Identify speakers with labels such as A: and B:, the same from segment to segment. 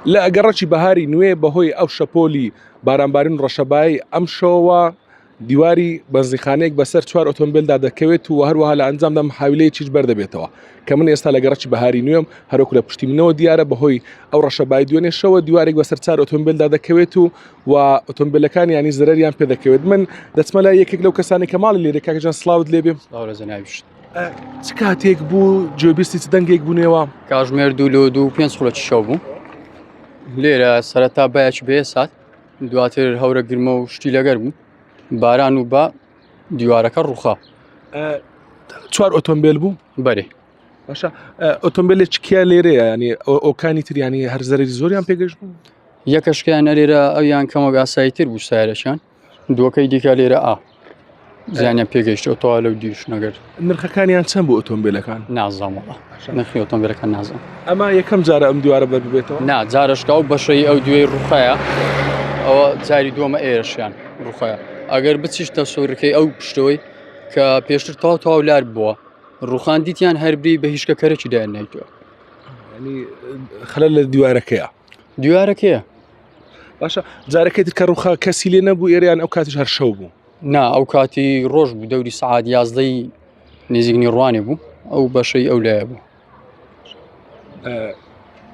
A: لە گەڕەکی بەهاری نوێ بەهۆی ئەو شەپۆلی بارانبارین و ڕەشەبای ئەم شەوە دیواری بەنزیخانەیەک بەسەر چوار ئۆتۆمبیلدا دەکەوێت و هەروەها لە ئەنجام دەم حاویلەیە چیش بەردەبێتەوە کە من ئێستا لە گەڕەکی بەهاری نوێم هەرۆک لە پشتی منەوە دیارە بەهۆی ئەو ڕەشەبای دوێنێ شەوە دیوارێک بەسەر چار ئۆتۆمبیلدا دەکەوێت و و ئۆتۆمبیلەکان ینی زەرریان پێ دەکەوێت من دەچمە لای یەکێک لەو کەسانی کە ماڵی لێرە کاکەجان سلااوت لێبێ ئەوە زەناویشت چ کاتێک بوو جێبیستی چ دەنگێک بوونەوە کاژمێر دوو لۆ
B: دوو پێنج خولەکی شەو بوو لێرە سەرەتا باەکی بێ سات دواتر هەورە گرمە و شتی لەگەر بوو باران و بە دیوارەکە ڕوخا
A: چوار ئۆتۆمبیل بوو بەرێ
B: باشە
A: ئۆتۆمبیلێک کیا لێرەیە ینی ئۆکانی تریانی هەرزەری زۆریان پێگەشت بوو یەکەشکیان
B: نەرێرە ئەویان کەمەگاسایی تر بوو سایرەشان دووەکەی دیکە لێرە ئا زیانیان پێگەیشتەوە تەوا لەو دیش نەگەر نرخەکانیان چەند بۆ
A: ئۆتۆمبیلەکان نازانەوە
B: نرخی ئۆتۆمبیلەکان نازان ئەما یەکەم جارە
A: ئەم دیوارە بەربێتەوە نا جارشکا و
B: بەشەی ئەو دوێی ڕوخایە ئەوە جاری دووەمە ئێرشیان ڕوخایە ئەگەر بچیشتە سوورەکەی ئەو پشتەوەی کە پێشتر تاو تاو لار بووە ڕوخان دیتیان هەربی بە هیچکە کەرەی دایان نایتوە
A: خلل لە دیوارەکەیە دیوارە کێە باشە جارەکەی تر کە ڕوخا کەسی لێ نەبوو ئێریان ئەو کاتیش هەر شەو بوو نا ئەو کاتی
B: ڕۆژ بوو دەوری سعات یازدەی نزیکنی ڕوانێ بوو ئەو بەشەی ئەو لایە بوو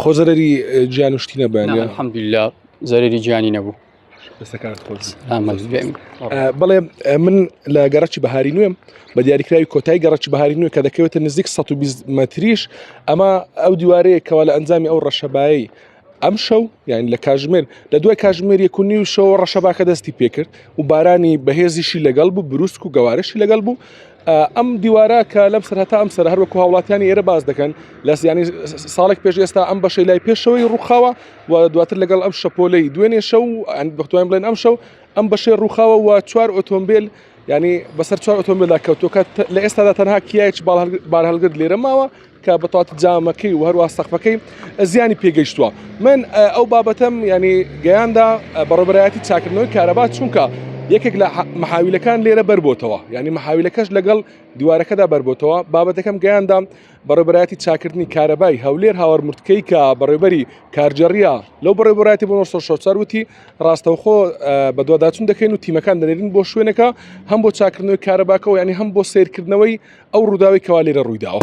A: خۆزەرەری جیان شتی نەبێن حەمدلا
B: زەرری جیانی نەبوو
A: بڵێ من لە گەڕکی بەهاری نوێم بە دیاریکراوی کۆتای گەڕکی بەهاری نوێ کە دەکەوێتە نزیک 120 مەتریش ئەمە ئەو دیوارەیە کەوا لە ئەنجامی ئەو ڕەشەبایی ئەم شەو یان لە کاژمێر لە دوای کاژمێر یەکونی و شەوە ڕەشەباکە دەستی پێکرد و بارانی بەهێزیشی لەگەڵ بوو بروسک و گەوارشی لەگەڵ بوو ئەم دیوارە کە لەم سەر هەتا ئەم سەر هەروەکو هاوڵاتیانی ئێرە باز دەکەن لە سیانی ساڵێک پێش ئێستا ئەم بەشەی لای پێشەوەی ڕووخاوە و دواتر لەگەڵ ئەم شەپۆلەی دوێنێ شەو و ئەند بەختوان بڵێن ئەم شەو ئەم بەشێ ڕووخاوە و چوار ئۆتۆمبیل ینی بەسەر چوار ئۆتۆمبیلدا کەوتۆکە لە ئێستادا تەنها کیایچ بار هەڵگر لێرە ماوە کە بەتات جامەکەی و هەروە سەقفەکەی زیانی پێگەیشتووە من ئەو بابەتەم ینی گەیاندا بەڕبەتی چاکردنەوەی کارەبا چونکە یەکێک لە محاویلەکان لێرە بەربتەوە ینی محاویلەکەش لەگەڵ دیوارەکەدا بەربتەوە بابەتەکەم گەیاندام بەڕێبەرایەتی چاکردنی کارەبای هەولێر هاوار مرتکەی کە بەڕێبەری کارجێڕیا لەو بەڕێبەرایەتی بۆ 1940 وتی ڕاستەوخۆ بەدواداچون دەکەین و تیمەکان دەنێرین بۆ شوێنەکە هەم بۆ چاکردنەوەی کارەباکەەوە ینی هەم بۆ سیرکردنەوەی ئەو ڕووداوی کەوا لێرە ڕوویداوە.